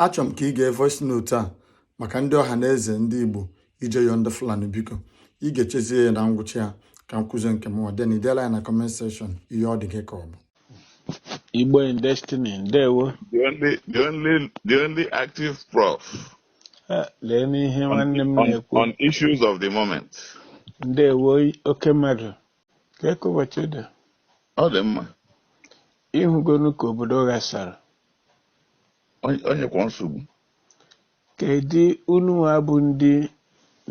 achọrọ m ka ị gee voice note a maka ndị Ọhaneze ndị Igbo ije yọọ ndị Fulani biko ị ga-echezie ya na ngwụcha ya ka m kwuzie nke m then ideela ya na comment section ihe ọ dị gị ka ọ bụ Igbo in destiny ndewo The only, the only, the only active prof Eh, lee n'ihe on, nwanne m on, na-ekwu on issues of the moment. ndewo oke mmadụ Kee ka ụbọchị dị, Ọ dị mma. ịhụgonu ka obodo ghasara. Onye- Onye kwa nsogbu. Kedu unu nwa bụ ndị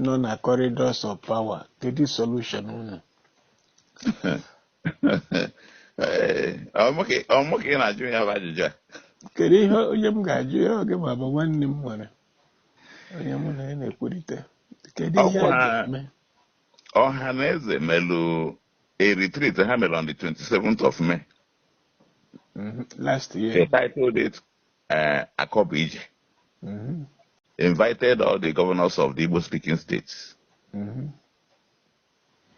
nọ na corridors of power? Kedu solution unu? Ee, ọ mụ ka ọ mụ ka ị na-ajụ ya bụ ajụjụ a. Kedu ihe onye m ga-ajụ ya oge ma bụ nwanne m nwere onye mụ na ya na-ekwurịta? Kedu ihe a Ọkwa- ga-eme? Ọhaneze melu a retreat ha mere on the 27th of May. Mhm. Last They year. titled it uh, Akobu Ije. Mhm. Invited all the governors of the Igbo speaking states. Mhm.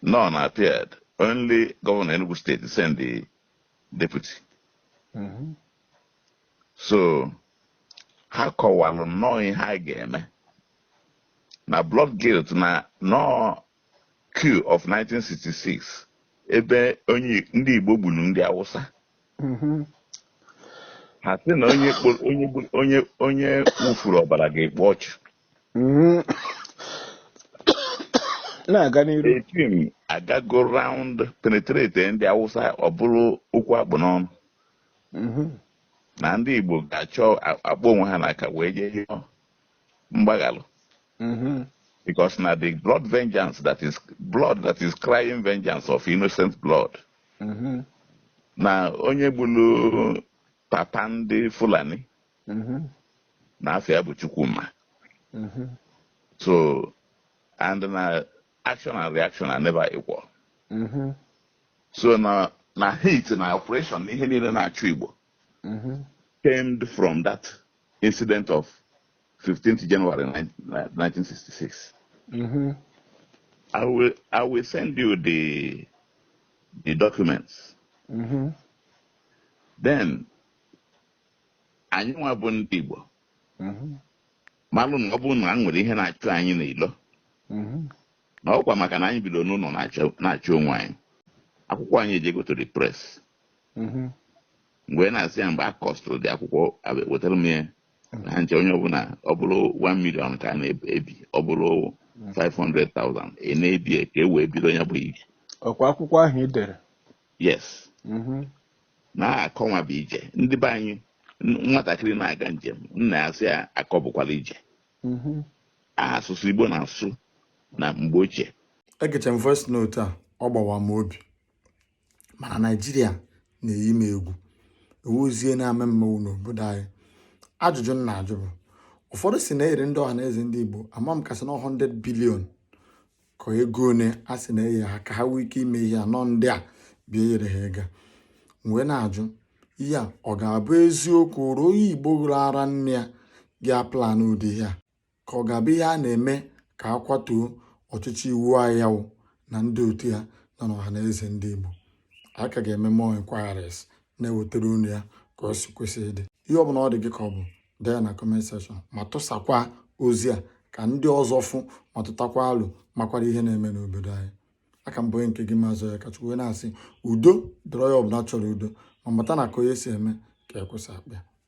None appeared. Only Governor Enugu State sent the deputy. Mhm. So ha kọwara nnọọ ihe a ga-eme na blood guilt na nọọ coup of 1966 ebe onye ndị Igbo gburu ndị Awụsa Mhm. ha sị na onye kpo- onye gbu- onye onye wụfuru ọbara ga-ekpu ọchụ Mhm. na-aga n'iru the thing agago round penetrate ndị Awụsa ọ bụrụ okwu a kpụ n'ọnụ Mhm. na ndị Igbo ga-achọ a- akpọ onwe ha n'aka wee jee yọọ mgbaghalụ mm-hmm. because na the blood vengeance that is blood that is crying vengeance of innocent blood mm-hmm. na onye gburu papa ndị Fulani mm-hmm. na afa ya bụ Chukwuma so and na action and reaction are never equal so na na hate na oppression na ihe niile na-achụ Igbo mm-hmm. stemmed from that incident of 15th January 1966. Mm-hmm. I will I will send you the the documents. Mm-hmm. Then anyị nwa bụ ndị Igbo mm-hmm. malụ na ọ bụrụ na e nwere ihe na-achụ anyị n'ilo mm-hmm. na ọkwa maka na anyị bido n'ụlọ na-achụ onwe anyị akwụkwọ anyị ejego to the press mm-hmm. mgbe na-asị ya mgbe a costụrụ the akwụkwọ wetara m ya na ha nche onye ọbụla ọ bụrụ 1 million ka a na-ebi ọ bụrụ 500,000 ị na-ebi ka e wee bido ya bụ ije ọkwa akwụkwọ ahụ i dere yes mm-hmm. na akọ nwa bụ ije ndị be anyị nwatakịrị na-aga njem nna ya sị ya akọ bụkwara ije mm-hmm. asụsụ Igbo na-asụ na mgbe ochie egecha m voice note a ọ gbawa m obi mana naijiria na-eyi m egwu ewuzie na-eme mmanwụ n'obodo anyị ajụjụ m na-ajụ bụ ụfọdụ sị na e nyere ndị ọha na eze ndị igbo ama m ka a sị na 100 billion ka ego one a sị na e nye ha ka ha nwee ike ime ihe anọ ndị a bịa e nyere ha ego m wee na-ajụ ihe a ọ ga-abụ eziokwu ruo onye igbo ṅụrụ ara nne ya ga-aplan ụdị ihe a ka ọ ga-abụ ihe a na-eme ka a kwatuo ọchịchị Iwuanyanwụ na ndị otu ya nọ n'ọha na eze ndị Igbo a ka ga-eme more inquiries na-ewetara unu ya ka ọ si kwesị ịdị ihe ọbụla ọ dị gị ka ọ bụ dee ya na comment section ma tụsakwa ozi a ka ndị ọzọ fụ ma tụtakwa alo makwara ihe na-eme n'obodo anyị a ka m bụ onye nke gị Mazị Akachukwu na-asị udo dịrị onye ọbụla chọrọ udo ma mata na ka onye si eme ka ekwesị akpa